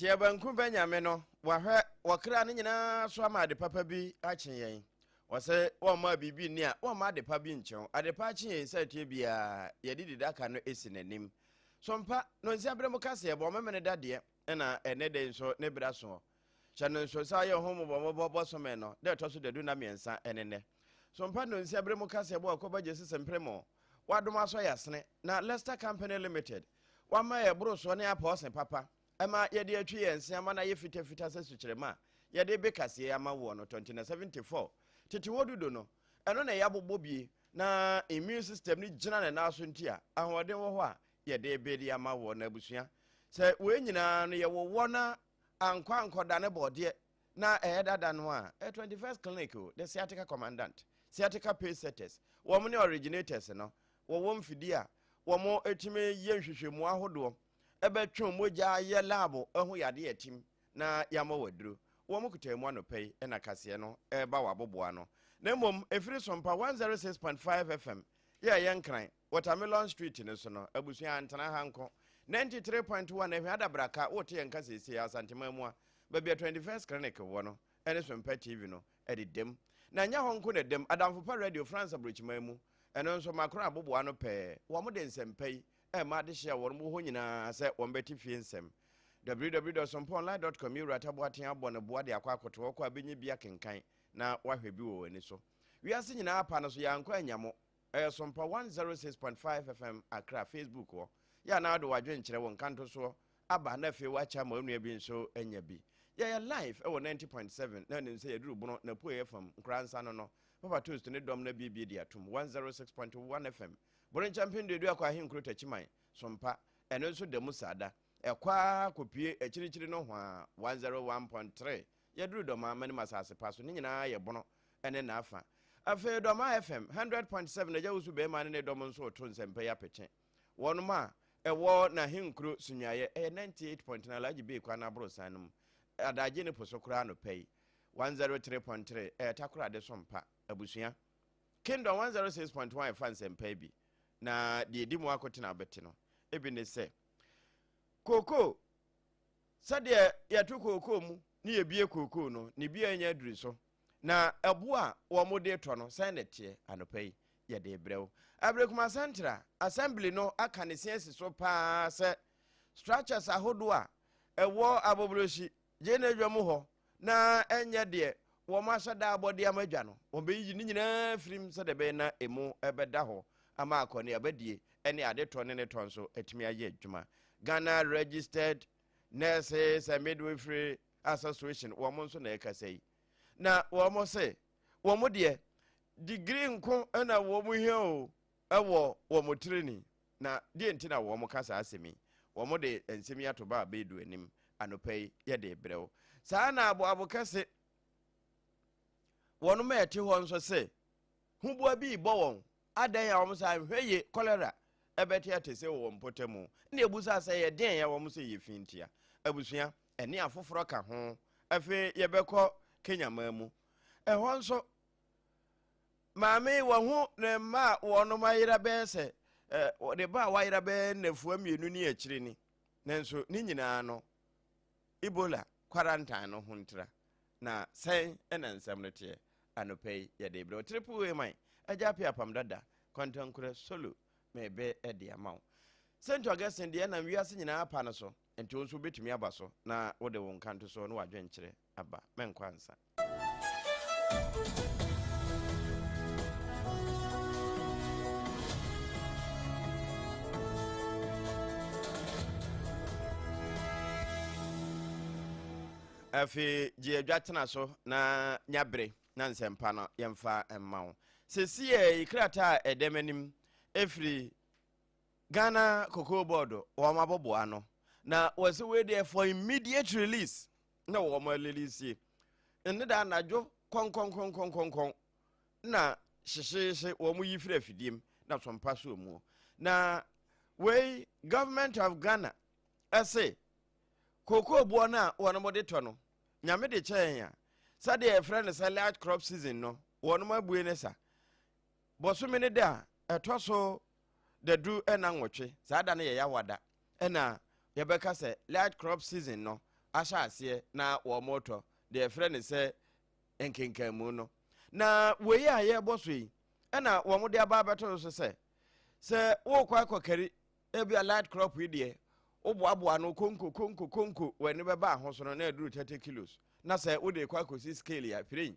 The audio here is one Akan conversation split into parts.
Teɛ banku bɛ nyame no wahwɛ wɔkra no nyinaa so ama ade papa bi akye yɛn wɔsɛ wɔmma biribi nni a wɔmma ade pa bi nkyɛn ade pa akye yɛn sɛ teɛ biara yɛde di daka no esi n'anim so mpa no nsi abere mu kaseɛ bɔ memene dadeɛ nna ɛnnɛ da yi nso ne bere aso hɔ. Hyɛ no nso sɛ ayɛ ho mmobɔmmɔbɔ bosome no da ɛtɔ so dadu nna mmiɛnsa ne nnɛ. So mpa nnonsia bere mu kaseɛbɔ a ɛkɔba gye sese mpere mu wadom asɔ yɛ asene na Lester Company Limited wama yɛ borosoɔ ne apɔɔse papa ɛma yɛde atwi yɛn se ama no ayɛ fitafita sɛ sukyerɛma a yɛde be kaseɛ ama woɔ no tɔntina 74 tete hɔ dudo no ɛno na ɛyɛ abobɔ bie na immune system no gyina ne nan so nti a ahoɔden wɔ hɔ a Yɛde ebe de ama wɔn abusua. Sɛ wei nyinaa no yɛwɔ wɔ na ankɔ ankɔda ne bɔɔdeɛ na ɛyɛ dada no a, ɛ 21st Clinic o, the sciatica commandant, sciatica pace setters, wɔn ne originators no wɔwɔ mfidie a wɔn ɛtumi yɛ nhwehwɛmu ahodoɔ ɛbɛtwe mogya yɛ laabu ɛho yadeɛ atim na yɛama wɔ aduro. Wɔn kutaa mu anɔpa yi na kaseɛ no ɛreba wɔ aboboa no. Na mmom ɛfiri Sompa 106.5 FM yɛ ɛyɛ nkran. Watermelon Street no so no, abusua antena ha nko. 93.1 Ahwɛ adabraka wote yɛn nka seesei a Asanteman mu a, baabi a 21st Clinic wɔ no, ɛne so mpɛ TV no de dam. Na ɛnyɛ hɔ nko na ɛdam, Adamfo Pa Radio France aburokyiman mu, ɛno nso Macron abobow ano pɛɛ, wɔde nsɛm pa yi rema adehye a wɔn wɔ hɔ nyinaa sɛ wɔbɛte fie nsɛm. www.sompoonline.com Me Wura Ta Boateng abɔ ne boa de akɔ akoto hɔ kɔ a benya bi akenkan na wahwɛ bi wɔ w'ani so. Wiase nyinaa pa no so, yɛankɔ annya mo. Ɛyɛ Sompa 106.5 FM Accra Facebook hɔ. Yɛ a na wode w'adwene kyerɛ wo nkantosoɔ aba na afei woakyɛ ama onua bi nso anya bi. Yɛyɛ live ɛwɔ 90.7 na nim sɛ yɛduru Bono n'apueɛ fam, Nkoransa no no. Papa Toast ne dɔm no abiebie de atom 106.1 FM Boronkyɛ Mpɛnduadua kɔ Ahenkuro Takyiman, Sompa. Ɛno nso da mu saa da. Ɛkɔ ara kɔpue akyirikyiri nohoa 101.3 Yɛduru Dɔmaa manim asase pa so ne nyinaa yɛ bono ne n'afa Afei Dɔmaa FM hundred point seven Agya Wusu Bɛɛma ne ne dɔm nso reto nsɛmpa yi apekye wɔnom a ɛwɔ N'ahenkuro Sunyuaeɛ ɛyɛ ninety eight point nine Alhaji Bey Kwan Aborosan no mu Adagye ne po so koraa anɔpa yi one zero three point three ɛyɛ Takoradi so mpa Abusua Kingdom one zero six point one ɛfa nsɛmpa yi bi na deɛ ɛdi mu akotena bɛte no ebi ne sɛ Kookoo Sɛdeɛ yɛto kookoo mu ne yɛbue kookoo no, ne bue nyɛ duru so. Na ɛboɔ a wɔde retɔ no, sɛn na ɛteɛ? Anɔpa yi, yɛde rebrɛ wo. Aberekuma Central Assembly no aka ne se asi so pa ara sɛ, structures ahodoɔ a ɛwɔ Aboborɔsi gyenadwa mu hɔ na ɛnyɛ deɛ wɔn ahyɛ da abɔde ama adwa no, wɔbɛyiyi ne nyinaa firim sɛdeɛ ɛbɛyɛ na emu bɛda hɔ ama akɔneabadie ne adetɔ ne ne tɔ nso atumi ayɛ adwuma. Ghana Registered Nurses and Midwifery Association wɔn nso na ɛkasa yi, na wɔn se wɔn deɛ digiri nko na wɔn hia o, Wɔ wɔn tiri ni. Na deɛ nti na wɔn ka saa asɛm yi? Wɔn de nsɛm yi ato ba a bɛɛdu anim anɔpa yi, yɛ de rebrɛ wo. Saa ara na aboabo kɛse, wɔn ma ɛte hɔ nso se, huboa bi rebɔ wɔn, adɛn a wɔn saa nhwɛ ye, kɔlera, ɛbɛte ate se wɔ wɔn mpɔtamu. Nna ebu saa sɛ yɛ deɛn a wɔn se yɛ fi ntia. Abusua, ɛne afoforɔ ka ho. Afei yɛbɛkɔ Kenya man mu. Ɛhɔ nso, Maame yi, wahu ne mma a wɔnom ayera bɛyɛ sɛ ɛ, ne ba a wayera bɛyɛ nnafua mmienu ne akyire ni. Nanso ne nyinaa no, Ebola quarantine no ho ntira. Na sɛn na nsɛm no teɛ? Anɔpa yi, yɛde brɛ wo Triple A man, Agya Apia Apam Dada, Kwantankura Solo, mebe de ama wo. St. Augustine deɛ nam wiase nyinaa apa no so, nti wo nso wobɛtumi aba so na wode wo nkantosoɔ ne w'adwenkyerɛ aba. Mɛnkɔ ansa. afei gye adwa tena so na nya bere na nsɛmpa no yɛmfa mma wo sɛsi yɛ krataa a ɛdɛm anim ɛfiri ghana cocoa board wɔn abɔboa no na wɔsɛ wei deɛ for immediate release na wɔn alilisie. Ɛne da anadwo kɔnkɔnkɔnkɔnkɔnkɔn na hyehyeehye wɔn yi firi afidiem na sɔmpa so muo. Na wei government of Ghana ɛse kookoo boɔ no a wɔn de tɔ no nyame de kyɛn a sɛdeɛ yɛfrɛ no sɛ light crop season no wɔn abue ne sa Bɔsome no da a ɛtɔ so dadu ɛna nwɔtwe, saa da no yɛ Yawa da, ɛna yɛbɛka sɛ light crop season no ahyɛ aseɛ na wɔretɔ deɛ yɛfrɛ no sɛ nkenkanmu no. Na wei a yɛrebɔ so yi ɛna wɔde aba abɛto so sɛ sɛ worekɔ akɔkari ebi a light crop yi deɛ woboaboa no konko konko konko w'ani bɛba ahosono na ɛduru 30 kilos na sɛ wode kɔ akɔsi scale a pirin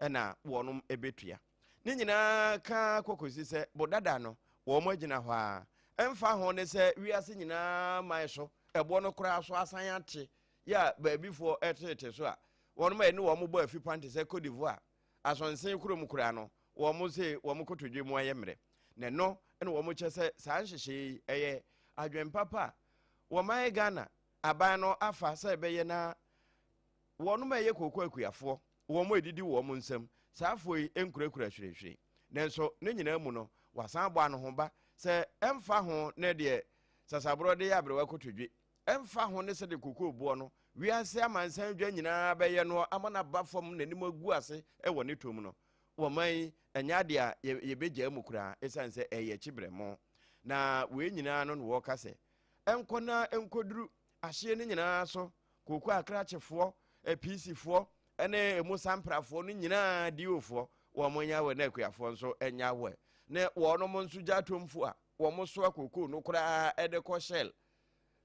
ɛna wɔnom ɛbɛtua. Ne nyinaa ka ara kɔkɔsi sɛ bo dada no wɔn agyina hɔ ara. Ɛmfa ho ne sɛ wiase nyinaa man so ɛboɔ no koraa so asan ate yɛ a baabifoɔ ɛtetete so a wɔnom a ɛne wɔn bɔ afipan te sɛ Cote d'Ivoire, Asɔnsen kurom koraa no wɔn se wɔn kotodwe mu ayɛ mmerɛ. Na ɛno na wɔn kyɛ sɛ saa nhyehyɛeɛ yi ɛyɛ adwene papa a wɔman Ghana aban no afa sɛ ɛbɛyɛ na wɔnom a ɛyɛ kooko akuafoɔ wɔadidi wɔn nsam. Saa afoɔ yi nkurakura hwirehwire. Nanso ne nyinaa mu no, wɔasan abɔ anohoba sɛ ɛmfa ho ne deɛ sasaborɔ de yɛ aberewa kotodwe, ɛmfa ho ne sɛdeɛ kokoo boɔ no, wiase amansan dwa nyinaa bɛyɛ no ama no aba fam na anim agu ase wɔ ne tɔ mu no, wɔman yi ɛnyɛ adeɛ a yɛbɛgyaa mu koraa ɛsiane sɛ ɛyɛ kyebrɛmo. Na wei nyinaa no na wɔka sɛ ɛnkɔ na ɛnkɔduru Ahyeɛ no nyinaa so, kooko akrakyefoɔ, apiisifoɔ, ne emu samprafoɔ no nyinaa di ofoɔ, wɔn nyɛ awɛ na akuafoɔ nso nyɛ awɛ, ne wɔnom nso gya atomfo a wɔn soa kookoo no koraa de kɔ Shell,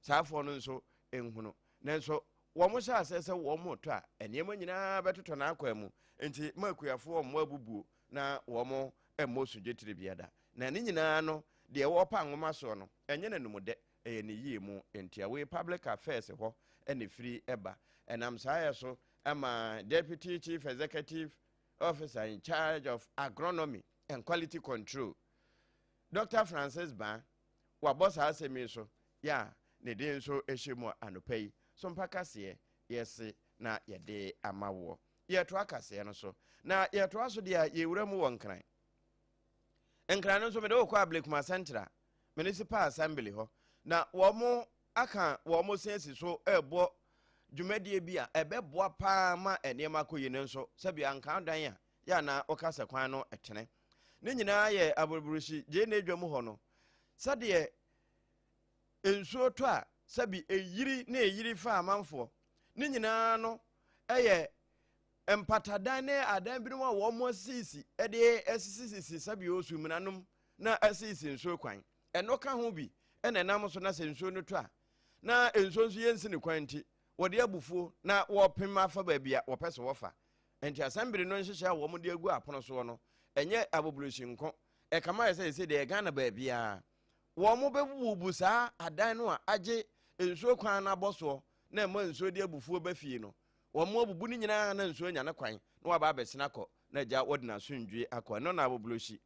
saa afoɔ no nso nhunu. Nanso wɔn hyɛ aseɛ sɛ wɔn tɔ a, nneɛma nyinaa bɛtotɔ n'akwan mu, nti ma akuafoɔ wɔn abubuo na wɔn mmɔ sodwetire biada. Na ne nyinaa no, deɛ wɔpa nwoma soɔ no, ɛnyɛ n'anumdɛ, Ɛyɛ ne yie mu ntia. Wei public affairs hɔ na ɛfiri ba. Ɛnam saa yɛ so ma Deputy Chief Executive Officer in charge of Agronomy and Quality Control, Dr. Francis Baa, wabɔ saa asɛm yi so yɛ a ne din nso hyɛ mu anɔpa yi. So mpa kaseɛ yɛse na yɛde ama woɔ. Yɛtoa kaseɛ no so. Na yɛtoa so deɛ a yɛwura mu wɔ Nkran. Nkran no nso mede wokɔ Ablekuma Central Municipal Assembly hɔ na wɔn aka wɔn se asi so rebɔ dwumadie bi a ɛbɛboa paa ma nneɛma akɔ yi no nso sɛbi anka dan a yɛ anaa wɔka sɛ kwan no tene ne nyinaa yɛ aburuburuhyi gyee na adwa mu hɔ no sɛdeɛ nsuo tɔ a sɛbi ɛyiri ne ɛyiri fa amanfoɔ ne nyinaa no ɛyɛ Mpatadan ne adan binom a wɔasisisi de asisisisi sɛbea osu mmenanom na asisisi nsuo kwan. Ɛno ka ho bi na ɛnam so na sɛ nsuo no tɔ a, na nsuo nso yɛnsi ne kwan nti, wɔde abufuo na wɔpem afa baabi a wɔpɛ sɛ wɔfa. Enti asɛmbere no nhyehyɛ a wɔde agu apono soɔ no, ɛnyɛ abobolosi nko. Ɛkame ayɛ sɛ ɛsɛ deɛ Ghana baabiara wɔbɛbubu saa adan no a agye nsuo kwan no abɔ soɔ na ɛma nsuo de abufuo ba fie no, Wɔn abubu no nyinaa na nsuo anya ne kwan na waba abɛsene akɔ na agya wɔde n'asomdwie akɔ. Ɛno na aboblosi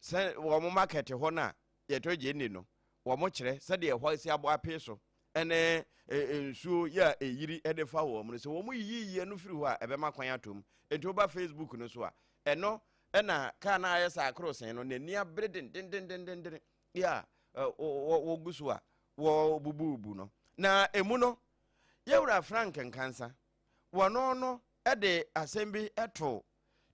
sɛ wɔn market hɔ no a yɛtɔ gye nne no wɔn kyerɛ sɛdeɛ ɛhɔ asi abɔ apee so ɛne nsuo yɛ a ɛyiri de fa wɔn no sɛ wɔn yiyiyi ɛno firi hɔ a ɛbɛma kwan atom nti woba facebook no so a ɛno ɛna kaa no ayɛ sɛ akoro sen no n'ani abere dendendendenden adeɛ a wɔgu so a wɔbububu no na ɛmu no yɛwura Frank Nkansa wɔno no de asɛm bi to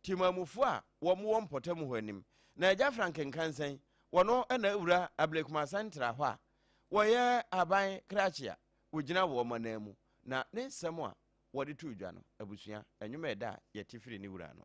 timamufoɔ a wɔwɔ mpɔtam hɔ anim na agya Frank Nkansa yi wɔno na awura Ablekuma Santra hɔ a wɔyɛ aban krakye a wɔgyina wɔn manan mu na ne nsɛm a wɔde to dwa no abusua ɛnwom ɛda a yɛte firi ne wura no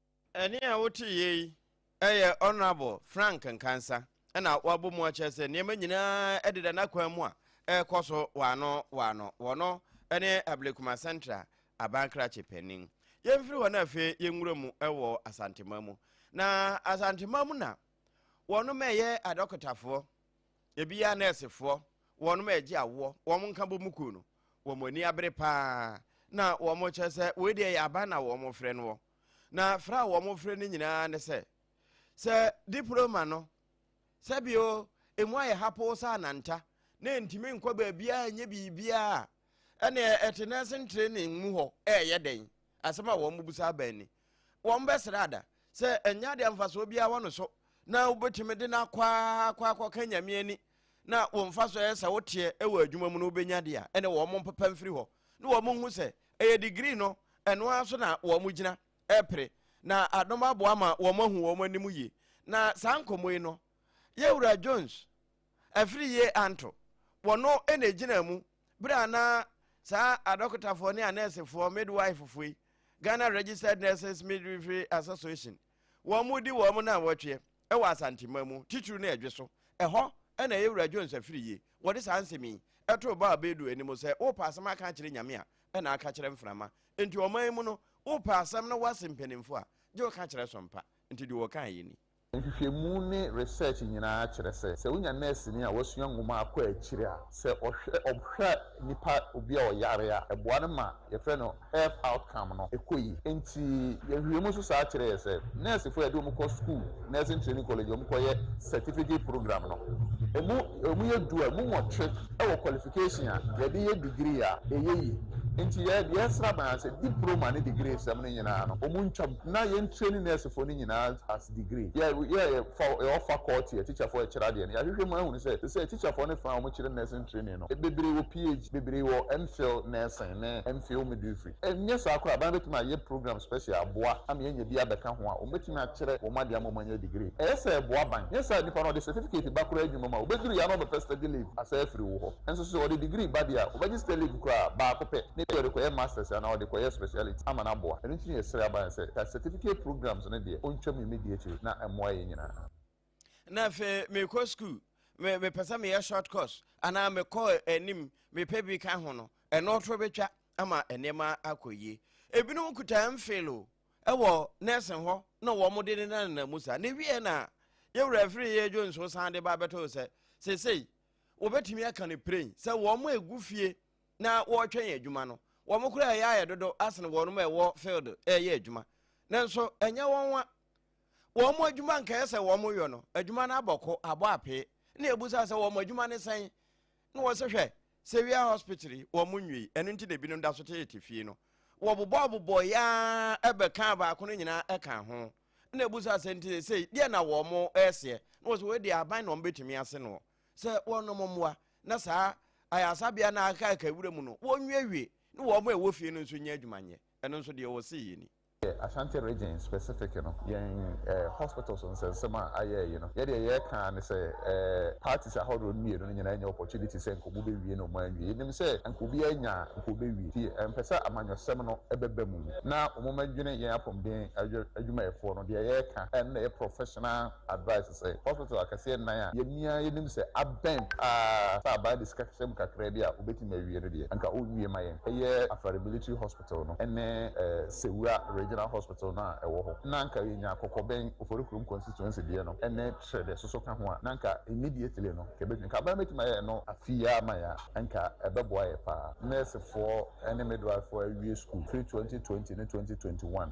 Ɛnne a woteeɛ yi yɛ Honourable Frank Nkansah na wabɔ mu akyerɛ sɛ nneɛma nyinaa deda n'akwan mu a ɛrekɔ so wɔ ano wɔ ano wɔ no ne Ablekuma Central aban krakye panin. Yɛmfiri hɔ na afei yɛnwura mu wɔ Asantema mu. Na Asantema mu na wɔnom ɛyɛ adɔkotafoɔ. Ebia nɛɛsefoɔ, wɔnom a ɛgye awoɔ, wɔn nkabɔmu kuo no, wɔn ani abere pa ara na wɔkyerɛ sɛ wei deɛ ɛyɛ aban na wɔfrɛ noɔ. Na frɛ a wɔfrɛ no nyina ara ne sɛ, sɛ diploma no, sɛbio ɛmu ayɛ hapoo sɛ ananta, na ɛntumi nkɔ baabiara nyɛ biribiara a, ɛneɛ ɛte nursing training mu hɔ ɛɛyɛ dɛn? Asɛm a wɔbusa aban ni. Wɔbɛsrɛ ada? sɛ ɛnyɛ adeɛ mfasoɔ biara wɔ no so na wobɛtumi de no akɔ ara kɔ akɔka nyame ani na wo mfa so ɛyɛ sɛ woteɛ wɔ adwuma mu no wobɛnya deɛ a ɛne wɔn mpopa mfiri hɔ na wɔn hu sɛ ɛyɛ degree no ɛno ara so na wɔn gyina ɛpere na adom aboa ma wɔn ahu wɔn anim yie na saa nkɔmmɔ yi no yɛwura Jones afiri yie anto wɔn ɛna gyina mu berɛ a na saa adɔkotafoɔ ne anɛɛsefoɔ midwife-foɔ yi, Ghana Registered Nurses Midwifery Association, wɔn di wɔn nnanwɔtweɛ wɔ Asanteman mu, titiriw no Ɛdwe so. Ɛhɔ na Yɛwura Jones afiri yi, wɔde saa nsɛm yi too Baal Bedu anim sɛ, Wopɛ asɛm aka akyerɛ Nyame a, ɛna aka kyerɛ mframa. Enti ɔman yi mu no, wopɛ asɛm na woase mpanimfoɔ a, gye wo ka kyerɛ so mpa. Enti deɛ wɔkaeɛ ni. Nhwehwɛmu ne research nyinaa kyerɛ sɛ, sɛ wonya nɛɛseni a wasua nwoma akɔ akyiri a, sɛ ɔhwɛ ɔhwɛ nipa obi a ɔyare a, ɛboa no ma yɛfrɛ no health outcome no ɛkɔ yie. Enti nhwehwɛmu nso saa kyerɛ yɛ sɛ, nɛɛsefo a yɛde wɔn kɔ sukuu, nursing training college, wɔn kɔ yɛ certificate program no, emu emu yɛ du a, emu nwɔtwe wɔ qualification a yɛde yɛ degree a, ɛyɛ yie. Enti yɛ deɛ ɛsra bɛn ara sɛ diproma ne degree sɛm no nyinaa no, wɔn ntwa. Na yɛn training nɛɛsefo no nyinaa as degree. Yɛ yɛ yɛ fa yɛwɔ faculty yɛ teacherfo ɛkyerɛ adeɛ no. Yɛahwehwɛ mu ahunu sɛ te sɛ teacherfo no fa a wɔn kyerɛ nursing training no bebree wɔ PH, bebree wɔ MPhil nursing ne MPhil midwifery. Ɛnyɛ saa koraa bɛn bɛtumi ayɛ program special aboa ama yɛanya bi abɛka ho a wɔn bɛtumi akyerɛ wɔn adeɛ ama wɔn anya degree. Ɛyɛ sɛ ɛboa bɛn? Nyɛ saa nipa no ɔde certificate ba koraa adwuma mu a ɔbɛduru yɛ a na ɔbɛpɛ study leave asan afiri wo hɔ. Nso sɛ ɔde degree ba deɛ a ɔbɛgye study leave koraa baako pɛ na ebi a ɔde kɔyɛ masters anaa ɔde kɔyɛ speciality. ama no aboa. Ɛno nti na yɛsrɛ aba no sɛ ka certificate programs no deɛ ɔntwam mmedi akyire na ɛmmoa yɛn nyinaa. Na afei mekɔ sukuu, me mepɛ sɛ meyɛ short course anaa mekɔ anim mepɛ bi ka ho no, ɛno to bɛtwa ama nneɛma akɔ yie. Ebinom kuta MPhil o, ɛwɔ nursing hɔ na wɔn de ne nanana mu saa. Na ewie na yɛwura afiri yɛ dwo nso san de ba bɛtɔ sɛ sesei wɔbɛtumi aka no piren sɛ wɔn a egu fie na wɔretwɛn adwuma no. Wɔn koraa ɛyɛ ayɛ dodo asene wɔnom a ɛwɔ field ɛreyɛ adwuma. Nanso ɛnyɛ wɔn nwa. Wɔn adwuma nkɛyɛ sɛ wɔn yɔ no, adwuma no abɔko, abɔ apee. Na yɛbusa sɛ wɔn adwuma ne sɛn? Na wɔse hwɛ, Sewia hospital yi, wɔn nwiei, ɛno nti na binom da so tete fie no. Wɔbobɔɔbobɔɔ yaa ɛbɛkaa baako no nyinaa ɛkaa ho. Na yɛbusa sɛ nti sesei, deɛ na wɔn ɛreseɛ? Na wɔse wei deɛ aban na wɔn bɛtumi ase noɔ. sɛ wɔnnom mmoa na saa ayaresabea no a aka aka wura mu no wɔnwiewie na wɔn a ɛwɔ fie no nso nyɛ adwuma nyɛ. Ɛno nso deɛ wɔsee yɛ ni. Yɛ Ashanti Region specific no, yɛn eh, hospitals nsɛnsɛm a ayɛɛ yi no, yɛ deɛ yɛreka ara ne sɛ eh, parties ahodoɔ no mmienu no nyinaa nya opportunity sɛ nka wɔbɛwie na wɔanwie. Yɛnim sɛ nka obiara anya a, nka wɔbɛwie. Nti ɛmpɛ sɛ amanyɔsɛm no ɛbɛba mu na wɔmmɛdwene yɛn apɔmuden adwumayɛfoɔ no. Deɛ yɛreka ɛno na ɛyɛ professional. advice sɛ hospital akɛseɛ nnan a yɛn nyinaa yɛnim sɛ abɛn paa sɛ aban de sika hyɛ mu kakraa bi a wɔbɛtumi awie no deɛ anka ɔnwie ma yɛn, ɛyɛ Afari Military Hospital no ne Sewura Regional Hospital no a ɛwɔ hɔ. Na anka yɛnya Kɔkɔbɛn, Oforikrom Constituency deɛ no ne Kyerɛ deɛ soso ka ho a na anka immediately no anka ɛbɛtumi, anka aban bɛtumi ayɛ ɛno afei ara ama yɛn a anka ɛbɛboa yɛn paa. Nɛɛsefoɔ ne midwivefoɔ awie sukuu firi twenty twenty ne twenty twenty one.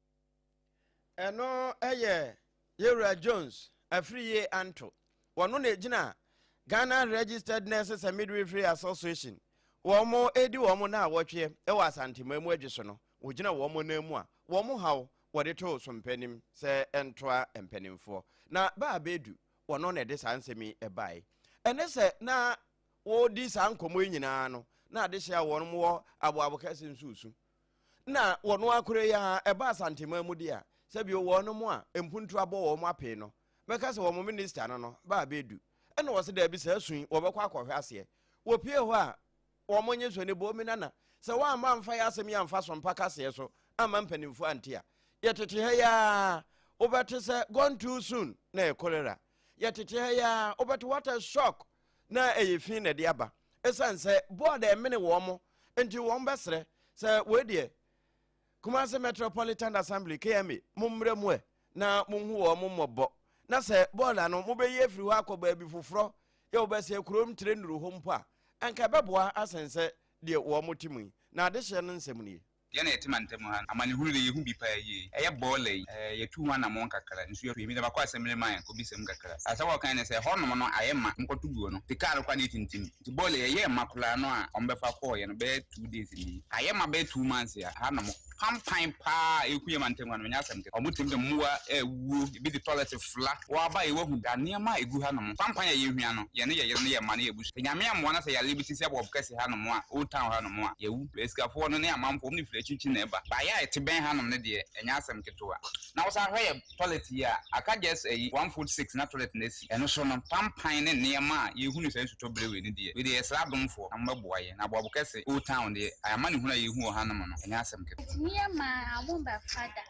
ɛno yɛ yɛwura jones afiriye anto wɔno na ɛgyina ghana registered nurses and midwifery association wɔn mo ɛdi wɔn mo na awɔtweɛ ɛwɔ asantema mu adwi so no wɔgyina wɔn mo nan mu a wɔn mo haw wɔde too so mpanim sɛ ɛntoa mpanimfoɔ na baa bɛdu wɔno na ɛde saa nsɛm yi ɛbae ɛne sɛ na wɔdi saa nkɔmmɔ yi nyinaa no na adehyɛ a wɔn wɔ aboabo kɛse nsusu na wɔn ara kora yi ara ɛba Asanteman mu deɛ a, sɛ bio wɔn mo a mpuntu abɔ wɔn mo apee no, mɛka sɛ wɔn minista no no ba abɛdu. Ɛna wɔse daabi saa su yi wɔbɛkɔ akɔhwɛ aseɛ. Wɔpie hɔ a, wɔn nye so ne Boomi Nana, sɛ woamma amfa yɛ asɛm yi amfa so mpa kaseɛ so amma mpanimfoɔ ante a, yɛtete ha yi ara wobɛte sɛ gone too soon na ɛyɛ cholera. Yɛtete ha yi ara wobɛte what a shock na ɛyɛ fi na ɛde aba ɛsiane sɛ board ɛmene wɔn mo nti wɔn bɛsrɛ sɛ wei deɛ Kumasi Metropolitan Assembly KMA mo mmerɛ mu ɛ na mo hu wɔn mo mmɔbɔ na sɛ board ano mo bɛyi afiri hɔ akɔ baabi foforɔ yɛ wɔbɛsɛ kurom tire nnuru hɔ mpo a ɛnka ɛbɛboa asɛn sɛ deɛ wɔn mo te mu yi na adehyeɛ no nsɛm nie. Yɛn a yɛte mantam ha no, amanehunu de, yehu bi paa yie. Ɛyɛ bɔɔla yi, ɛɛ, yɛatu ho anammɔn kakra. Nsu atɔ yɛn. Mr. Bako asɛm remind kɔbisa mu kakra. Asɛm a ɔkae ne sɛ, Hɔnom no, ayɛ ma. Monkɔto guo no, te kaa no kɔ a na etintim. Nti bɔɔla yi, ɛyɛɛ ma koraa no a wɔbɛfa kɔɔ yɛn no, bɛyɛ two days ni, ayɛ ma bɛyɛ two months a hanom pampan paa a ɛreku yɛn mantam ha no, ɛnyɛ asɛm kɛkɛ. Wɔte mu sɛ mmoa a awuo, ebi de toilet Tula. Woaba yi woahu da nneɛma a egu hanom. Kwanpan a yehia no, yɛne yɛn yere ne yɛn mma ne yɛn abusua. Sɛ Nyame ammoa na sɛ yareɛ bi te sɛ Bob kɛse hanom a, old town hanom a, yɛawu. Asikafoɔ no ne amanfoɔ, wɔn ne firi akyirikyiri na ɛba. Baayɛ a ɛte bɛn hanom no deɛ, ɛnyɛ asɛm ketewa. Na wosan hwɛ yɛn toilet yi a, aka just ayi, one foot six na toilet no asi. Ɛno so no, kwanpan ne nneɛma a yehu no saa nsutɔ bere wei no deɛ, wei deɛ yɛsrɛ adomfoɔ na mommɛboa yɛn. Na Bob kɛse, old town deɛ, amanehunu a yehu wɔ hanom no, ɛnyɛ asɛm ketewa. Ɛtumi yɛ ma a, wɔmmɛfa da.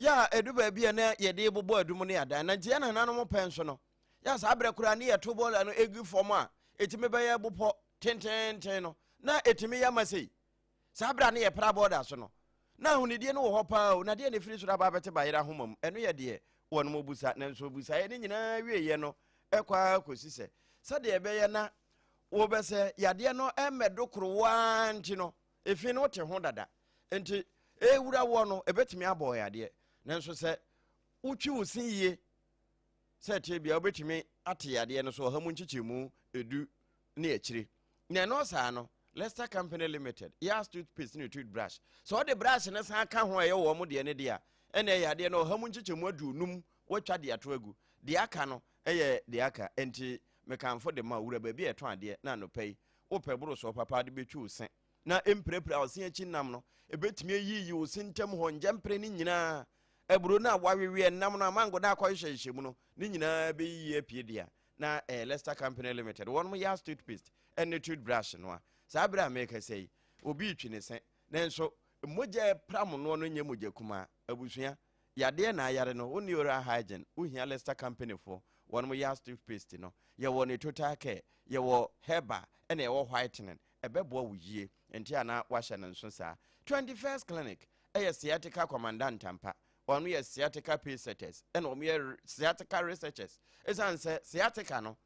Yɛ a ɛdu baabi a na yɛde rebobɔ adum ne adan, na nti yɛn nananom pɛ nso no, yɛ a saa berɛ koraa ne yɛto bɔɔla no egu fam a ɛtumi bɛyɛ bopɔ tententen no, na ɛtumi yɛ ma sei. Saa berɛ a na yɛpra bɔɔla so no, na ahonidie no wɔ hɔ paa o, na deɛ na ɛfiri soro aba abɛte bayerɛ ahoma mu, ɛno yɛ deɛ wɔnom ɔbusa, nanso ɔbusaeɛ no nyinaa wieeɛ no ɛkɔ ara kɔsi sɛ, sɛdeɛ ɛbɛyɛ na wɔbɛsɛ yadeɛ no mmɛdo koro wo ara nti no, Efi no te ho dada. Enti ewura woɔ no, ebetumi abɔ wo yadeɛ. Nanso sɛ wotwi wo se yie sɛ ɛteɛ bia wobɛtumi ate yadeɛ no so ɔha mu nkyekyɛmu edu ne akyire. Na ɛno saa no, Lester Company Limited, Yas toothpaste ne toothbrush. Sɛ ɔde brush no san ka ho a ɛyɛ wɔn deɛ no deɛ a, ɛna yadeɛ no ɔha mu nkyekyɛmu aduonum wɔatwa de ato agu. Deɛ aka no yɛ deɛ aka. Enti mekamfo de ma owura baabi a ɛtɔn adeɛ na anɔpa yi Wopɛ boro sɛ ɔpapa de bɛtwi wo se na ɛmpirapira wo se akyi nnam no, ɛbɛtumi ayiyi wo se ntam hɔ ngyɛmpere no nyinaa. Aburo no a wɔaweweɛ nnam no a mango no a akɔhyehyɛhyehyɛ mu no, ne nyinaa bɛyiyi apue dea. Na ɛyɛ Lester Company Limited, wɔnom yɛ as toothpaste ne toothbrush no a. Saa berɛ a merekasa yi, obi retwi ne se, nanso mogya a ɛpram noɔ no nyɛ mogya kumaa. Abusua. Yadeɛ na ayare no wo ne oral hygiene wo hia lester company foɔ wɔnom yɛ as tooth paste no yɛ wɔ ne total care yɛ wɔ herbal ɛna yɛ wɔ whitening ɛbɛboa wo yie nti a na wahyɛ no nso saa twenty first clinic ɛyɛ sciatica commandant ampa wɔnom yɛ sciatica pace setters ɛna wɔn yɛ sciatica researchers ɛsiane sɛ sciatica no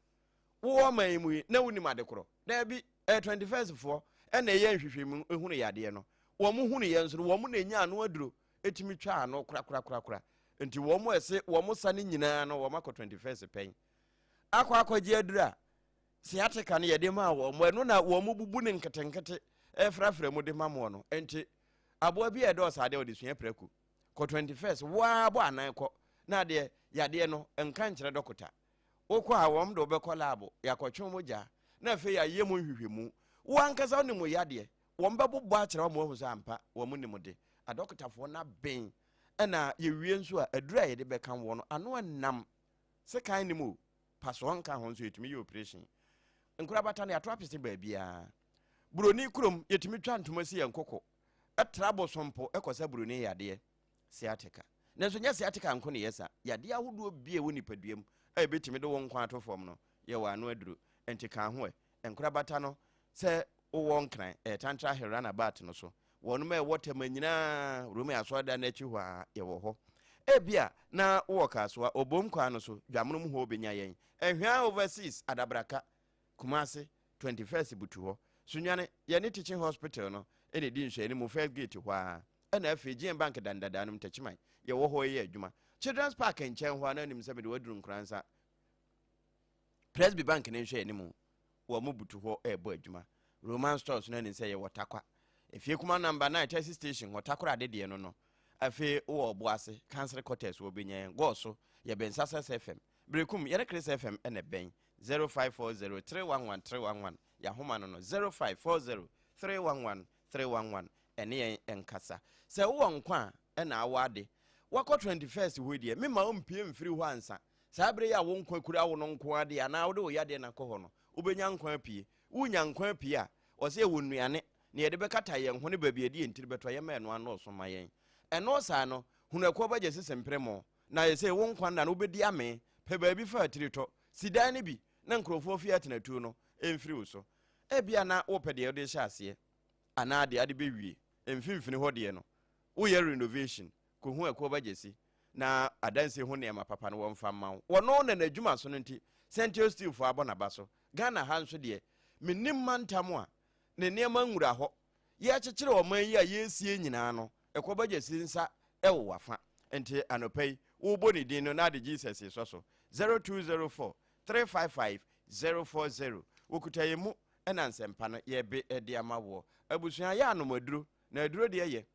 wowɔ ɔman yi mu yi na wonim ade korɔ daabi ɛyɛ twenty first foɔ ɛna ɛyɛ nhwehwɛmu ehunu yadeɛ no wɔn hunu yɛ nso no wɔn na enya ano aduro tumi twa ano korakorakorakora. Nti wɔn a ɛse wɔn sa no nyinaa no wɔakɔ 21st pɛn akɔ akɔgye aduru a sciatica no yɛde maa wɔn, ɛno na wɔn bubu no nketenkete ɛfrafra mu de ma moɔ no. Nti aboa bi a ɛdɔɔso adeɛ wɔde sua prɛko kɔ 21st waa bɔ anan kɔ na adeɛ yadeɛ no nka nkyerɛ dɔkota wokɔ a wɔn de wɔbɛkɔ laabo yɛakɔtwe mogya na afei yɛayɛ mu nhwehwɛmu wo ankasa wo ne mu yadeɛ Wɔbɛbobɔ akyerɛ wɔn ma wɔahu sɛ ampa wɔn nim de. Adɔkotafoɔ no aben na yɛwie nso a, aduru a yɛde bɛka wɔn no, ano nnam. Sekan nim o, pasoɔ nka ho nso yɛtumi yɛ operation. Nkorabata no yɛato apese baabiara. Buroni kurom yɛtumi twa ntoma si yɛn koko, tra bosom po kɔsa buroni yadeɛ. Sciatica. Nanso ɛnyɛ sciatica nko na ɛyɛ saa. Yadeɛ ahodoɔ bi a ɛwɔ nipadua mu a ɛbɛtumi de wo nkwa ato fam no, yɛwɔ ano aduro. Ɛnti ka ho ɛ. Nkorabata no, sɛ wowɔ Nkran, ɛyɛ Tantra Hill Runabout no so. Wɔnom a ɛwɔ Tema nyinaa, Rome Asɔredan no akyi hɔ ara, yɛwɔ hɔ. Ebia na wowɔ Kasoa, Obom kwan no so, Dwamonom hɔ wobɛnya yɛn. Nhwɛa Overseas, Adabraka. Kumase, Twenty First butu hɔ, Sunyani, yɛne Teaching Hospital no na ɛdi nhwɛanimu, First Gate hɔ ara, ɛna afei GMBank dan dadaa no mu, Techiman, yɛwɔ hɔ reyɛ adwuma. Children's Park nkyɛn hɔ ara na anim sɛ mede wo aduru Nkoransa, Presby Bank ne nhwɛanimu, wɔn butu hɔ rebɔ adwuma. Roman Stores no anim sɛ yɛwɔ Takwa, Efie Kuma Number Nine Taxi Station hɔ, Takoradi deɛ no no, afei wowɔ Ɔboase, Council Quarters hɔ, bɛnya yɛn, Gɔɔso, yɛbɛn Success FM, Berekum, yɛne Chris FM na ɛbɛn. Zero five four zero three one one three one one yahoma no no zero five four zero three one one three one one ɛne yɛn nkasa sɛ wowɔ nkwa a ɛna awɔ ade wakɔ twenty first hɔ deɛ mema wo mpie mfiri hɔ ansa saa bere yi a wo nkwa kura wo no nko adeɛ anaa wode wo yadeɛ na kɔ hɔ no wobɛnya nkwa apue wonya nkwa apue a ɔsɛ yɛwɔ nnuane na yɛde bɛkata yɛn ho ne baabi a ɛde yɛn tiri bɛtɔ yɛma ɛno anɔɔso ma yɛn ɛno saa no hunu ɛkoɔ bɛgye sesempere mo Na ayɛ sɛ wo nkwa nna no wobɛdi amee. Pɛ baabi fa atiritɔ. Si dan no bi na nkurɔfoɔ fie atenatuo no mfiri wo so. Ebia na wopɛ deɛ wode rehyɛ aseɛ anaa deɛ ade bɛwie. Mfimfini hɔ deɛ no, woyɛ renovation, kɔhu Akuo Ba Gyasi na adansie ho nneɛma papa no wɔmfa mma wo. Ɔno na n'adwuma sono nti Sentio Steelfoɔ abɔ n'aba so. Ghana ha nso deɛ, mennim mantam a ne nneɛma nwura hɔ yɛrekyekyere ɔman yi a yɛresie nyinaa no, kɔ ba Gyasi nsa wɔ w'afa. Nti anɔpa yi, wobɔ ne din no na ade Jesus resɔ so. 0204 355 040 Wɔkuta yɛn mu na nsɛmpa no yɛrebe de ama woɔ. Abusua, yɛ anom aduro, na aduro deɛ yɛ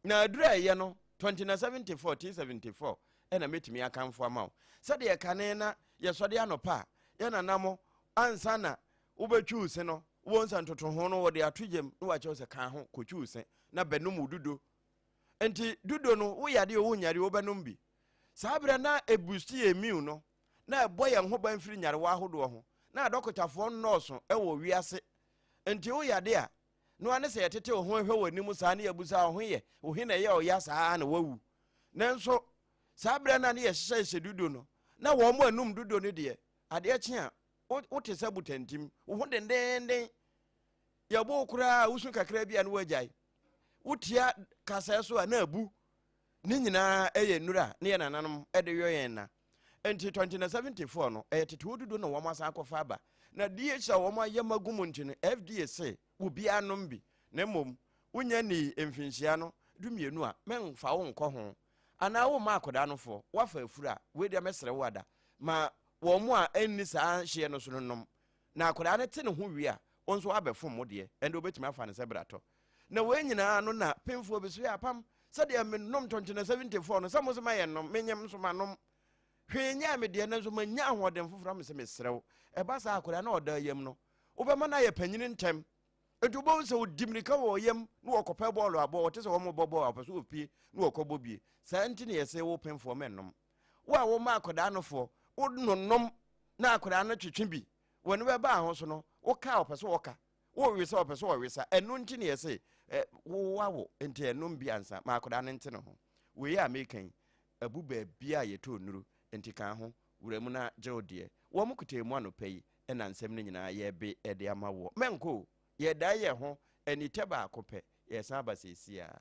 Na aduru a ɛyɛ no, 2074 till 74, ɛna mɛtumi akamfo ama wo. Sɛdeɛ kane na yɛsɔde anɔpa a, yɛ nana mo, ansa na wobɛtwi wo se no, wobɛhu sɛ ntotoho no wɔde ato gyam na wɔakyɛ wo sɛ ka ho kɔtwi wo se na bɛnom wo dudo. Nti dudo no, wo yadeɛ o, wo nyareɛ o, wobɛnom bi. Saa berɛ na ɛbusti yɛ immune no, na ɛbɔ yɛn ho ban firi nyarewa ahodoɔ ho. Na adɔkotafoɔ nnɔɔso wɔ wiase, nti wo yade a, No ara ne sɛ yɛtetew ho hwɛ wɔ anim saa na yɛabisa wo ho yɛ, wo he na ɛyɛɛ wo ya saa ara na woawu? Nanso saa berɛ no a ne yɛhyehyɛ hyɛ dudo no, na wɔn anum dudo no deɛ, adeɛ kye a, wo, wote sɛ botantim. Wo ho dendeenden. Yɛbo wo koraa a, wosu kakra bi a na woagyae. Wotia kasɛɛ so a, na abu. Ne nyinaa yɛ nnuru a ne yɛn nananom de yɔ yɛn nna. Enti twenty na seventy foɔ no, ɛyɛ tete odudo na wɔn asan akɔfa aba. Na DH a wɔn ayɛ ma gu mu nti no, FDA se obiara nom bi, na mmom wonya nnii mfinhyia no du mmienu a, mɛmfa wo nkɔ ho. Anaa womma akwadaa no foɔ, woafa afuro a, wei deɛ mɛsrɛ wo ada, ma wɔn a ɛnni saa hyeɛ no so no nnom, Na akwadaa no te ne ho wie a, wo nso abɛfom wo deɛ, ɛnde wobɛtumi afa no sɛ bratɔ. Na wei nyinaa ano na pemfoɔ bi so yɛ apam, sɛdeɛ menom tɔnkyene 74 no, sɛ mo se ma yɛnnom, menyem nso manom. Hwee nyɛɛ me deɛ, nanso manya ahoɔden foforɔ a mese mesrɛ wo, ɛba saa a, akwadaa no a ɔda yam no, wobɛma no ayɛ panyini ntɛm. Enti wobɛhu sɛ ɔdi mmirika wɔ yam na ɔkɔpɛ bɔɔlo abɔ, ɔte sɛ wɔrebɔ bɔɔlo a, ɔpɛ sɛ ɔpue na ɔkɔbɔ bie. Saa nti na yɛse wo pemfoɔ mɛnnom. Wo a woma akwadaa no foɔ, wo no nom na akwadaa no twetwe bi, w'ani bɛba aho so no, wo ka a ɔpɛ sɛ ɔka, wo we sɛ ɔpɛ sɛ ɔwe sa. Ɛno nti ne yɛse wo wawo nti ɛnom bi ansa ma akwadaa no nte ne ho. Wei a meka yi, abu baabi a yɛtɔ nnuru nti ka ho wura mu na gye wo deɛ. Wɔn kutee mu anɔpa yi na nsɛm no nyinaa yɛbe de ama woɔ. Mɛnkɔ o, yɛdan yɛn ho anitɛ baako pɛ, yɛsan aba seesei ara.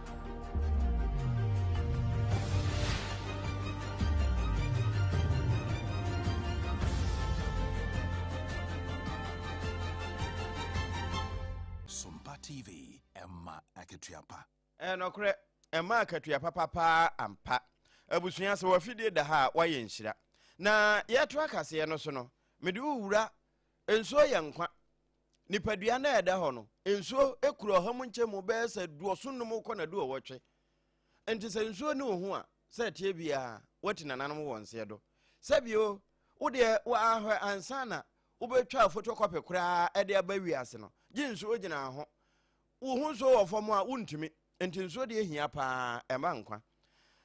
Sumpa TV, ɛma akatua pa. Ɛnɔkorɛ, ɛma akatua papa paa ampa. Abusua sɛ wafidie da ha a wayɛ nhyira. Na yɛto akaseɛ no so no, mede wo wura, nsuo yɛ nkwa. Nipadua no a ɛda hɔ no, nsuo kura ɔha mu nkyɛmu bɛyɛ sɛ duɔso num kɔ na duɔwɔtwe. Nti sɛ nsuo ne wo ho a, sɛ ɛteɛ biara woati nananom wɔ nseɛ do. Sɛbio, wodeɛ wɔahwɛ ansa na wobɛtwa photocopy koraa de aba wiase no, gye nsuo gyina ho. Wo ho nsuo wɔ fam a wontumi, nti nsuo deɛ hia paa, ɛma nkwa.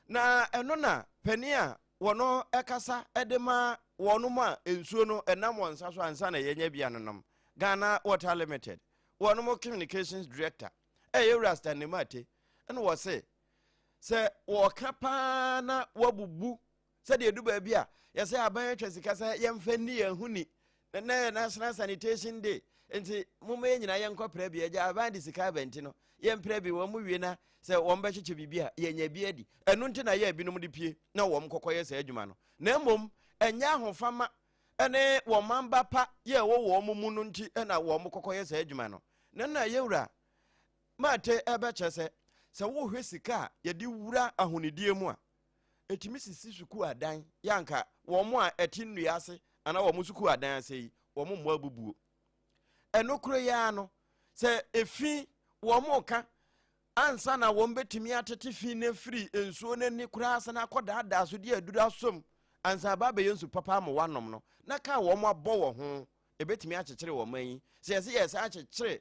na ɛno na panin a wɔn ɛkasa de ma wɔn mu a nsuo no ɛnam wɔn nsa so ansa na yɛnyɛ bia no nom ghana water limited wɔn mu communications director ɛyɛ wura stanley mate ɛna wɔse sɛ wɔka paa na wabubu Sɛdeɛ ɛdu baabi a, yɛsɛ aban atwa sika sɛ yɛmfa nni yɛn ho ni. Ɛnnɛ yɛ National Sanitation Day, nti momma yɛn nyinaa yɛnkɔpra bi. Agya, aban de sika aba nti no, yɛmpra bi. Wɔn wie na sɛ wɔbɛkyekyɛ biribi a, yɛanya bi adi. Ɛno nti na yɛɛ binom de pue na wɔn kɔkɔyɛ saa adwuma no, na mmom ɛnyɛ ahofama ne wɔn man ba pa yɛ ɛwɔ wɔn mu no nti na wɔn kɔkɔyɛ saa adwuma no. Na na Yɛwura Mate ɛbɛkyɛ sɛ, sɛ wohwɛ sika a yɛde wura ahonidie mu a, ɛtumi sisi sukuu adan yɛ anka wɔn a ɛte nnua ase anaa wɔn sukuu adan ase yi wɔn mmɔ abubuo ɛno koro yi ara no sɛ efi wɔn ka ansa na wɔn bɛtumi atete fi no afiri nsuo no ani koraa sɛ no akɔdaadaa so de aduru asom ansa aba abɛyɛ nsu papa ama wɔanom no na kaa wɔn abɔ wɔ ho ɛbɛtumi akyekyere wɔn yi sɛ yɛsɛ yɛsɛ akyekyere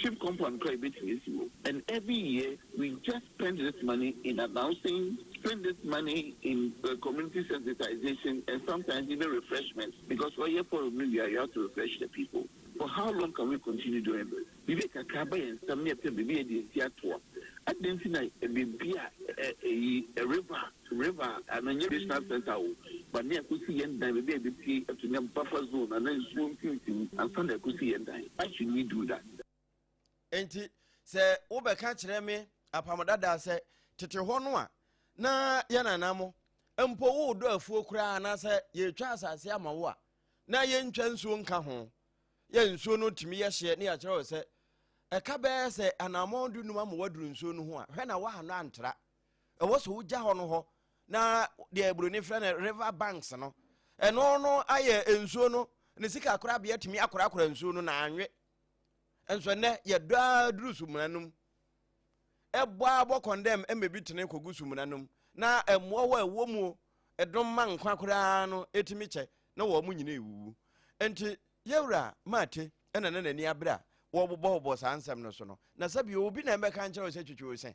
Ship compound koraa yɛbɛtumi asi hɔ and every year we just spend this money in announcing, spend this money in community sensitization and sometimes even refreshment because ɔyɛ forum no wie a you have to refresh the people. For how long can we continue doing this? Biribi kakra aba yɛn nsam ne yɛpɛ biribi yɛde asi ato a, adɛn nti na biribi a ɛyi river River a na ɛnyɛ Regional Centre o, but na yɛakosi yɛn dan, baabi a yɛbɛpue ato nnya mu, buffer zone anaa nsuo mfimfini ansa na yɛakosi yɛn dan. Why should we do that? Enti sɛ wobɛka kyerɛ me Apam Dada sɛ tete hɔ no a na yɛn nana mo mpo wodɔ afuo koraa anaasɛ yɛretwa asase ama wo a na yɛntwa nsuo nka ho yɛ nsuo no tumi yɛ hyeɛ ne yɛakyerɛ wo sɛ ɛka bɛyɛ sɛ anammɔn du num ama waduru nsuo no ho a hwɛ na woanɔ antra ɛwɔ sɛ wogya hɔ no hɔ na deɛ buroni frɛ no river banks no ɛno no ayɛ nsuo no ne sika korabea tumi akorakora nsuo no na anwe nso nnɛ yɛdɔ ara duru sumina no mu ɛbɔ ara bɔ kɔndɛm ɛmɛ bi tene kɔgu sumina no mu na mmoa wɔ ɛwɔ mu o ɛdom ma nkwa koraa no ɛtumi kyɛ na wɔn mo nyina ɛwuwu nti yɛwura maate ɛna na n'ani abere a wɔbobɔbobɔ saa nsɛm no so no na sɛbi obi na ɛbɛka nkyerɛ wo sɛ twitwi wo sɛn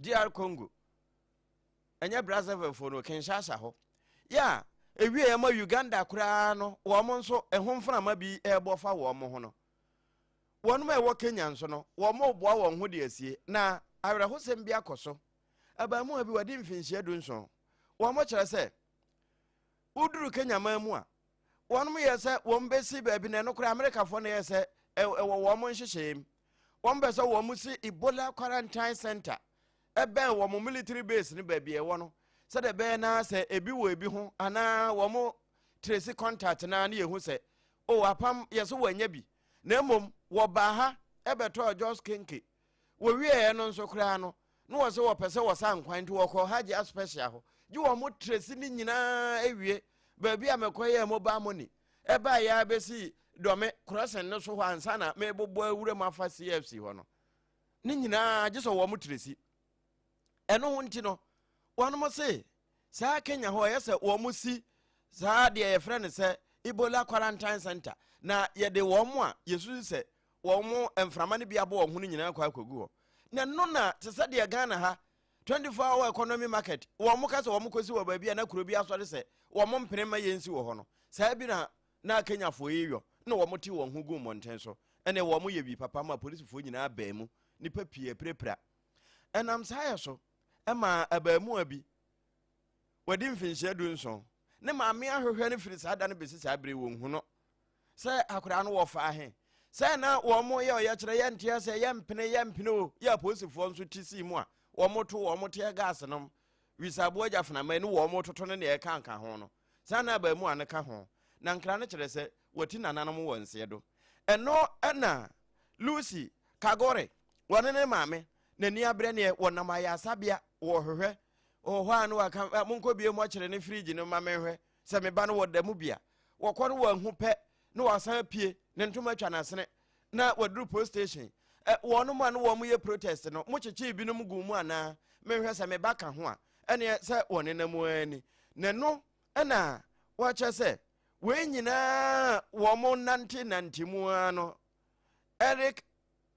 DR Congo, ɛnyɛ Brazzaville fo no, Kinshasa hɔ. Yɛ a ɛwieɛ ma Uganda koraa no, wɔn nso ɛho mframa bi ɛrebɔ fa wɔn ho no. Wɔnom a ɛwɔ Kenya nso no, wɔn reboa wɔn ho de asie, na awerɛhosɛm bi akɔ so. Abaamuwa bi, wadi mfinhyia du nson, wɔn kyerɛ sɛ, woduru Kenya man mu a, wɔnom yɛ sɛ wɔn bɛsi baabi na ɛno koraa Amerikafoɔ na ɛyɛ sɛ ɛwɔ wɔn mo nhyehyɛɛ mu. Wɔn bɛ sɛ wɔn mo si Ebola Quarantine Center ɛbɛn wɔn mo military base no baabi ɛwɔ no sɛ dɛ bɛyɛ naa sɛ ebi wɔ ebi ho anaa wɔn mo tracy contact naa ne yɛhu sɛ o oh, apam yɛ so wɔanya bi na mmom wɔbaa ha ɛbɛtɔɔ Jos Kenke Wɔwieeɛ no nso koraa no, na wɔse wɔpɛ sɛ wɔsan kwan nti wɔkɔɔ Hajj Aspɛsia hɔ gye wɔn tresi no nyinaa wie. Baabi a mekɔyɛɛ mobile money baeɛ ara bɛsi Dɔme crossing no so hɔ ansa na mebobɔ awura mu afa CFC hɔ no, ne nyinaa gye sɛ wɔn tresi. Ɛno ho nti no, wɔnom se Saa Kenya hɔ yɛ sɛ wɔn si saa deɛ yɛfrɛ no sɛ Ebola quarantine center na yɛde wɔn a yɛsusu sɛ wɔn mframa no bi abɔ wɔn ho no nyinaa kɔ akɔgu hɔ. Na ɛno na te sɛ deɛ Ghana ha 24 hour economy market wɔn ka sɛ wɔn kɔsi wɔ baabi a na kuro bi asɔre sɛ wɔn mpene ma yɛnsi wɔ hɔ no saa bi na na Kenyafoɔ yi yɔ na wɔn te wɔn ho gu mmɔnten so ɛnna wɔn yɛ bi papa ma polisifoɔ nyinaa bɛn mu nipa pii apirapira ɛnam saa yɛ so. ɛmaa abaamua bi, wadi mfinhyia du nson, ne maame ahwehwɛ no firi saa da no bɛsi saa bere wɔnhu no sɛ akwadaa no wɔfa ahe sɛ na wɔn yɛ ɔyɛkyerɛ yɛ nteɛ sɛ yɛ mpene yɛ mpene o yɛ apolisifoɔ nso ti sii mu a wɔn to wɔn teɛ gaase nom wisaboa gya fenama ne wɔn toto ne nea ɛka nka ho no saa na abaamu a no ka ho na nkra no kyerɛ sɛ wɔti nananom wɔ nseɛ do ɛno ɛna lucy kagore wɔne ne maame N'ani abrɛ neɛ wɔnam ayarasabea wɔhwehwɛ wɔ hɔ a na waka "Ah, monkɔ bie mɔkyerɛ ne fridge no ma menhwɛ sɛ me ba no wɔ da mu bi a wɔkɔ no wɔanhu pɛ na wasan apue ne ntoma atwa n'asene na waduru post station Ɛ, wɔnom a na wɔn yɛ protest no mokyekyee binom guu mu anaa menhwɛ sɛ me ba ka ho a ɛneɛ sɛ wɔnenam ara ni ne no ɛna wɔkyɛ sɛ wei nyinaa wɔn nante nante mu ara no Eric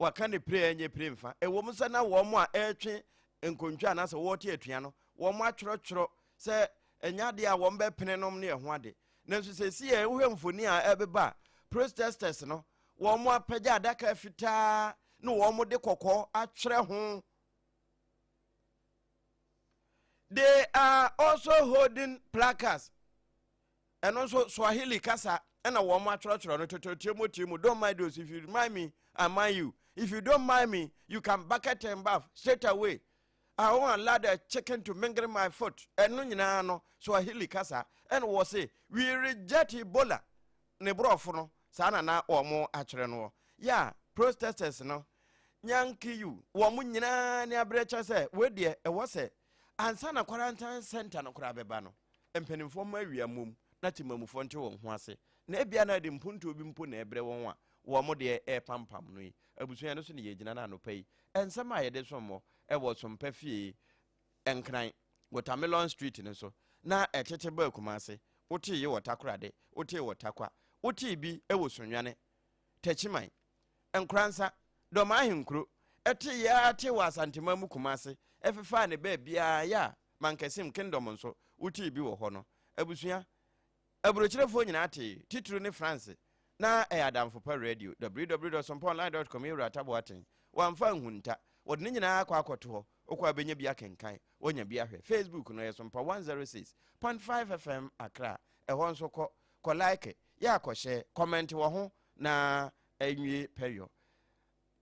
Wɔka no pire ɛnyɛ pire mfa. Ɛwom sɛ na wɔn a ɛretwe nkontwa anaasɛ wɔrete atua no, wɔatwerɛtwerɛ sɛ ɛnyɛ adeɛ a wɔbɛpene nom ne ɛho ade. Nanso seesei a wohwɛ mfoni a ɛbeba a, protesters no, wɔapagya adaka fitaa na wɔde kɔkɔɔ atwerɛ ho. They are also holding placards. Ɛno nso, Swahili kasa na wɔatwerɛtwerɛ no totoro, tie mo, tie mo, don't mind us, if you mind me, I mind you, if you don't mind me, you can bucket and bath straight away. I won't allow the chicken to mingle my foot. Ɛno nyinaa no, Swahili kasa ɛna wɔ se, we reject Ebola. Ne borɔfo no, saa na na wɔn akyerɛ no wɔ. Ya, Protestants no, Nyankiyu, wɔn nyinaa ne aberɛ kyerɛ sɛ, wei deɛ, ɛwɔ sɛ Ansa na kwarantan sɛnta no koraa bɛba no, mpanimfoɔ mma awia mmom na temamufoɔ nte wɔn ho ase, na ebia na ɛde mpontuo bi mpo na ɛrebrɛ wɔn a wɔn deɛ repampam no yi. Abusua, ɛno so na yɛgyina no anɔpa yi. Nsɛm a yɛde som mo wɔ Sompa Fie Nkran, Watermelon Street no so, na ɛtete baa Kumase. Wotee yi wɔ Takorade, wotee wɔ Takwa, wotee bi wɔ Sunyani, Takyiman, Nkoransa, Dɔm ahenkuro, ɛteeɛ ara tee wɔ Asanteman mu Kumase, ɛfefaa ne baabiara, yɛ a Mankasim Kingdom nso, wotee bi wɔ hɔ no. Abusua, Aburokyerefoɔ nyinaa tee, titiriw ne Franse, na ɛyɛ adamfo pa radio, www.sompaonline.com yɛ Wura Taboaten, wamfa anhunta, wɔde ne nyinaa akɔ akɔto hɔ, wokɔ a bɛnya bi akenkan, woanya bi ahwɛ. Facebook no, ɛyɛ Sompa 106.5 FM Accra, ɛhɔ nso kɔ, kɔ like, yɛ a kɔ share, kɔmɛnte wɔ ho, Na ɛnwie pɛyɔ.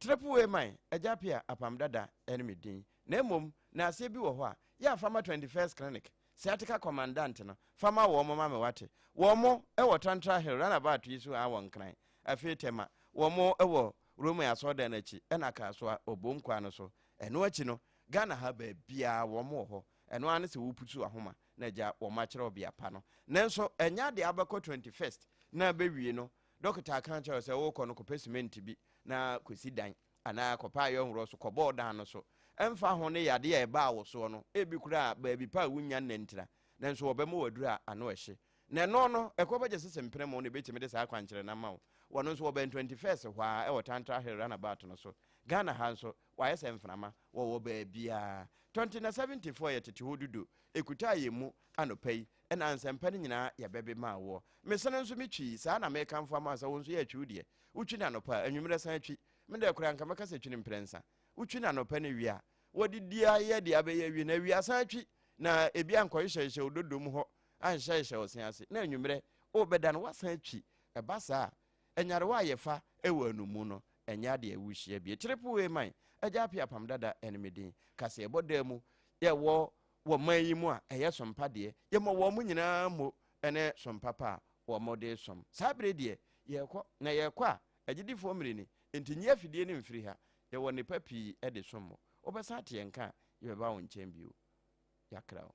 Trepu wei man, Agya Pia Apam Dada ne me din. Na mmom, na aseɛ bi wɔ hɔ a, yɛ a fa ma 21st Clinic, Sciatica Commandant no, fa ma wɔn ma me wate. Wɔn wɔ Tantra Hill, Runabout yi so aa wɔ Nkran. Afei Tema, wɔn wɔ Roman Asɔredan no akyi, ɛna Akasoa, Obom kwan no so. Ɛno akyi no, Ghana ha baabiara wɔn wɔ hɔ. Ɛno ara ne sɛ wopusu ahoma. na gya wɔn akyerɛ ɔbea pa no. Nanso, ɛnyɛ ade a wobɛkɔ 21st na abewie no. Dɔkota aka akyerɛ wo sɛ worekɔ no, kɔpɛ simenti bi na kɔsi dan, anaa kɔpɛ ayɛ nhorɔ so kɔbɔ wo dan no so. Ɛmfa ho ne yadeɛ a ɛbaa wo soɔ no, ebi koraa baabi pa a wonnya nnɛntira, nanso wɔbɛma wo aduru a ano ɛhye. Na ɛno no, ɛkɔ bɛgye sese mpremon na ɛbɛtumi de saa akwankyerɛ no ama wo. Wɔn nso wɔbɛn 21st hɔ ara wɔ Tantra Hill Runabout no so. Ghana ha nso, Wayɛ sɛ mframa, wɔwɔ baabiara. Tɔnte na Seventyfoɔ yɛ tete hɔ dudu, ɛkutaa yɛn mu anɔpa yi, ɛna nsɛmpa no nyinaa yɛbɛbe maa woɔ. Mesene nso me twii, saa na mekamfo ama wo sɛ wo nso yɛ atwi wo deɛ. Wotwi no anɔpa a, anwummerɛ san twi. Me deɛ koraa anka mɛka sɛ twi no mprɛnsa. Wotwi no anɔpa na awia wɔde di ayɛ deɛ abɛyɛ awie na awia san twi na ebi ankɔhyehyɛhyehyɛ wo dodom hɔ anhyɛhyehyɛ ɔse ase na anwummerɛ wobɛda no woasan atwi. Ɛba saa a, nyarewa a yɛfa wɔ ɛno mu no, ɛnyɛ ade a wuhyia bi. Kyere po wei man, Agya Apia Apam Dada ne me din. Ka sɛ yɛbɔ daa mu, yɛwɔ wɔ man yi mu a, ɛyɛ som pa deɛ. Yɛmɔ wɔn nyinaa mmo ne som papa a wɔn de som. Saa bere deɛ, yɛrekɔ, na yɛrekɔ a, agyedifoɔ mmere ni, enti nyi afidie no mfiri ha. Yɛwɔ nnepa pii de som mo. Wobɛsan ate yɛn nka a, yɛbɛba wo nkyɛn bio. Yɛakra wo.